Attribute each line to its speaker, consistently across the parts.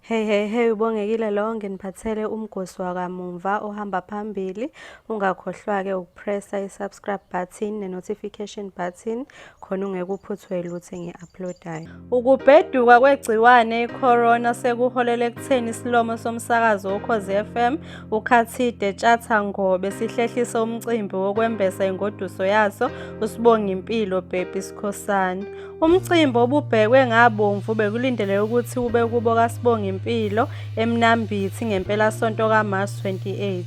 Speaker 1: Hey hey hey ubongekile lo nginiphathele umgosi wakamumva ohamba phambili ungakhohlwa ke ukupressa isubscribe button nenotification button khona ungekuphuthwe lutho engiuploadayo. Ukubheduka kwegciwane icorona sekuholele ekutheni isilomo somsakazo woKhozi FM uKhathide Tshatha Ngobe sihlehlise umcimbi wokwembesa ingoduso yaso usibonga impilo Baby Sikhosana. Umcimbi obubhekwe ngabomvu bekulindeleke ukuthi ube kubo kaSibongi Mpilo eMnambithi ngempelasonto kaMarch 28.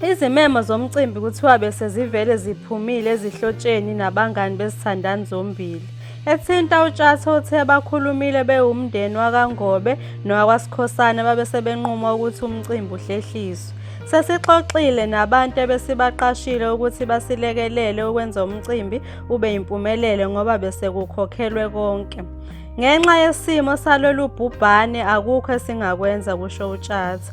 Speaker 1: Izimemo zomcimbi kuthiwa bese zivele ziphumile ezihlotsheni nabangani bezithandani zombili. Ethinta uTshatha uthe bakhulumile bewumndeni wakaNgobe nowakwaSikhosana babese benquma ukuthi umcimbi uhlehliswe. Sesixoxile nabantu ebesibaqashile ukuthi basilekelele ukwenza umcimbi ube yimpumelelo ngoba besekukhokhelwe konke. Ngenxa yesimo salolu bhubhane akukho esingakwenza kusho uTshatha.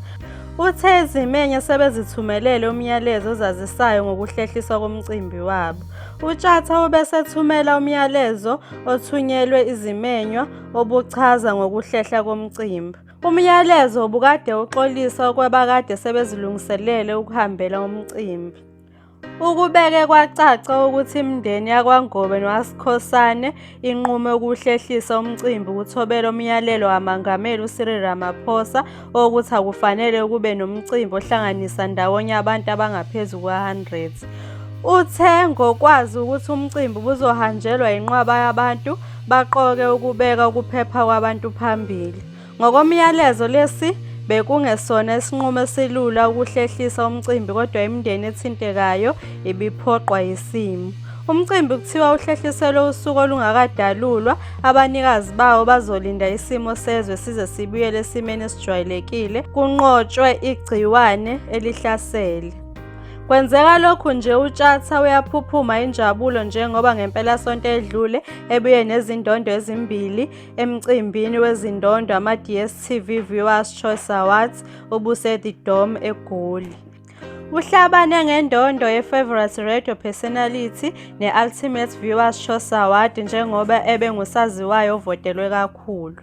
Speaker 1: Uthe izimenye sebezithumelele umyalezo ozazisayo ngokuhlehliswa komcimbi wabo. UTshatha ubesethumela umyalezo othunyelwe izimenywa obuchaza ngokuhlehla komcimbi. Umyalezo ubukade uxolisa okwabakade sebezilungiselele ukuhambela umcimbi. Ukubeke kwacaca ukuthi imindeni yakwaNgobe nowaSikhosane inqume ukuhlehlisa umcimbi ukuthobela umyalelo kaMangameli uCyril Ramaphosa wokuthi akufanele kube nomcimbi ohlanganisa ndawonye abantu abangaphezu kwa-100. Uthe ngokwazi ukuthi umcimbi ubuzohanjelwa yinqwaba yabantu, baqoke ukubeka ukuphepha kwabantu phambili. Ngokomyalezo lesi bekungesona isinqumo esilula ukuhlehlisa umcimbi kodwa imindeni ethintekayo ibiphoqwa yisimo. Umcimbi kuthiwa uhlehliselwe usuku olungakadalulwa, abanikazi bawo bazolinda isimo sezwe size sibuyele esimeni esijwayelekile, kunqotshwe igciwane elihlasele. Kwenzeka lokhu nje uTshatha uyaphuphuma injabulo njengoba ngempelasonto edlule ebuye nezindondo ezimbili emcimbini wezindondo ama-dstv viewers choice awards obuse-the dome egoli uhlabane ngendondo ye-favorite radio personality ne-ultimate viewers choice award njengoba ebe ngusaziwayo ovotelwe kakhulu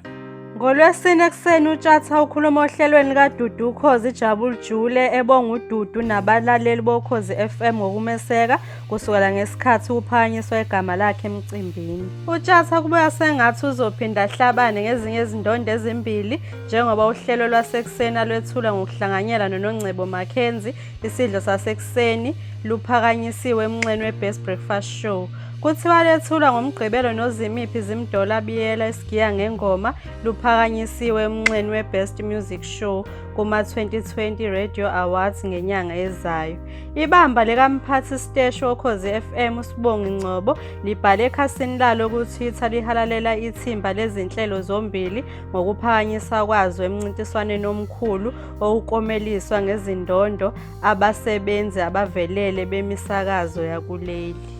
Speaker 1: ngolwesine ekuseni utshatha ukhuluma ohlelweni kadudu ukhozi jabul jule ebonga ududu nabalaleli bokhozi fm ngokumeseka kusukela ngesikhathi kuphakanyiswa igama lakhe emcimbini. UTshatha kubuya sengathi uzophinda ahlabane ngezinye izindondo ezimbili njengoba uhlelo lwasekuseni alwethula ngokuhlanganyela noNongcebo Mackenzie isidlo sasekuseni luphakanyisiwe emnxeni we-Best Breakfast Show. Kuthiwa lethulwa ngoMgqibelo noZimiphi Zimdollar Biyela isigiya ngengoma luphakanyisiwe emnxeni we-Best Music Show kuma-2020 Radio Awards ngenyanga ezayo. Ibamba likamphathi siteshi wokhozi FM uSibongi Ngcobo libhale ekhasini lalo kuTwitter lihalalela ithimba lezinhlelo zombili ngokuphakanyiswa kwazo emncintiswaneni omkhulu owukomeliswa ngezindondo abasebenzi abavelele bemisakazo yakuleli.